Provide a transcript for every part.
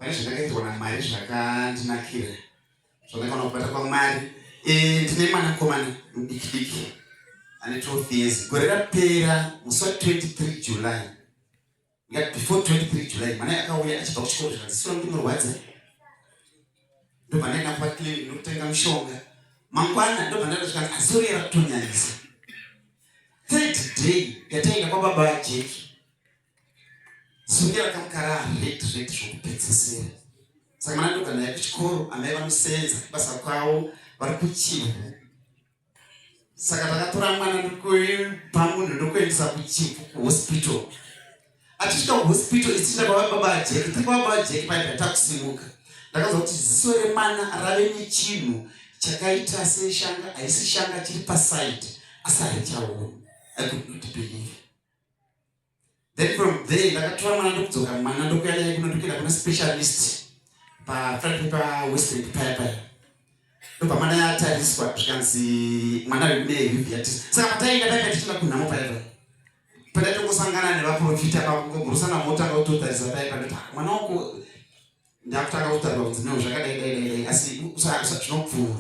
pane zvandakaitwa namwari zvakandinakira zvandakaona kubata kwamwari eh, ndine mwanakomana mudikidiki ane 12 years gore rapera musi wa 23 july ngat before 23 july mwana akauya achibva kuchikoro zvikazisira kuti murwadza ndobva ndaenda kuvaklini ndokutenga mushonga mangwana ndobva ndaenda zvikanzi asori yava kutonyanyisa third day yataenda kwababa vajeki Zunya rakamukara hate rate zvokupedzisira. Saka mwana ndoga naye kuchikoro amai vanosenza kubasa kwavo vari kuchivhu. Saka takatora mwana ndokupa munhu ndokuendesa kuchivhu kuhospital. Achisvika kuhospital ichiita kwava baba ajeki tiri kwava baba ajeki paibva takusimuka. Ndakaziva kuti ziso remwana rave nechinhu chakaita seshanga haisi shanga chiri paside asi haichaona. I could not believe. then from there ndakatora mwana ndokudzoka mwana ndokuya naye kuno ndokuenda kuna specialist pafrati pawestern paya paya ndobva mwana yatariswa zvikanzi mwana ari kune hiviatis saka patainga paya patichina kunhamo paya paya pandatongosangana nevaprofita pakungogurusana motanga kutotarisa paya pandoti ah, mwana wako ndakutanga kutarira kunzi no zvakadai dai dai dai asi zvinopfuura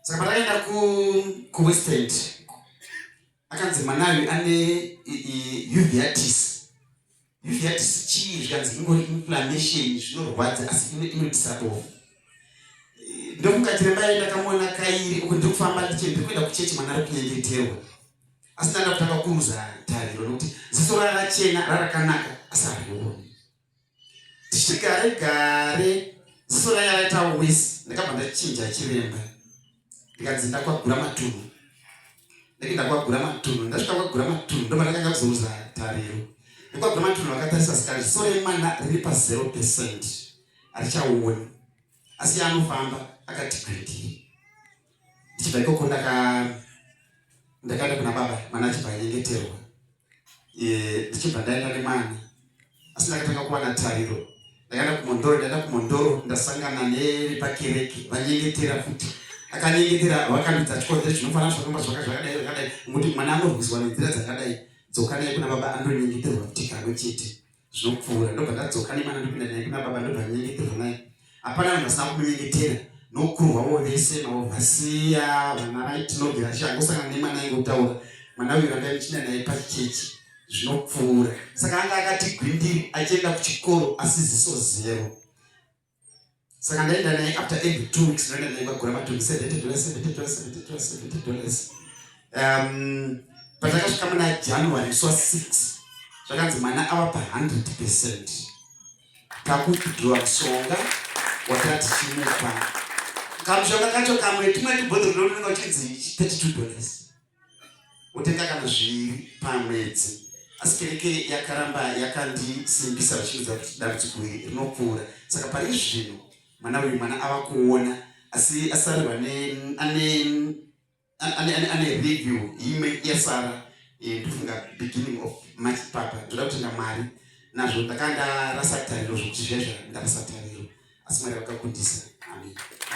saka patakaenda kuwestend akanzi mwana uyu ane uveitis uveitis chii zvikanzi ingori inflammation zvinorwadza asi inodisabove ndokungatire mbaye ndakamuona kairi uku ndiri kufamba ndichende kuenda kuchechi mwana ari kunyengeterwa asi ndanda kutanga kuruza tariro nokuti ziso rarachena rarakanaka asi harioni tichigare gare ziso raye raita wis ndakabva ndachinja chiremba ndikanzi ndakwagura matunhu ndake ndakwagura matunhu ndasvika kwagura matunhu ndoma ndakanga kuzoruza tariro ndikwagura matunhu vakatarisa sikari ziso remwana riri pazero percent harichaoni asi yaanofamba akati gredii ndichibva ikoko ndaka ndakaenda kuna baba mwana achibva anyengeterwa eh, ndichibva ndaenda nemwana asi ndakatanga kuwana tariro ndakaenda kumondoro ndaenda kumondoro ndasangana nevepakereke vanyengetera futi akanyengetera vakandidza chikonzero chinofanana zvakomba zvaka zvakadai zvakadai nokuti mwana anorwiswa nenzira dzakadai dzokanai kuna baba anonyengeterwa futi kamwe chete zvopfuura ndobva ndadzoka nemwana ndopinda naye kuna baba ndobva nyengeterwa naye hapana vanhu vasina kumunyengetera nokurwa wo vese navo vasiya vana vai tinogera tichi angosangana nemwana ainge kutaura mwana uyu ranga ichina naye pachechi zvinopfuura saka anga akati gwindiri achienda kuchikoro asiziso zero saka ndaenda naye after every two weeks ndaenda naye kwagura matumbi seventy dollars seventy dollars seventy dollars seventy dollars um patakasvika muna january swa six zvakanzi mwana ava pa hundred percent kakudhiwa mushonga watati chimupa kamushonga kacho kamwe tumwe tubhodhoro ndononga uchinzi thirty two dollars wotenga kana zviviri pamwedzi asi kereke yakaramba yakandisimbisa vachidza kuti dambudziko iri rinopfuura saka pari zvino mwana uyu mwana ava kuona asi asarwa ane review imwe yasara eh, ndofunga beginning of march papa ndoda kutenda mwari nazvo ndakanga ndarasa tariro zvokuti zvezva ndarasa tariro asi mwari vakakundisa amen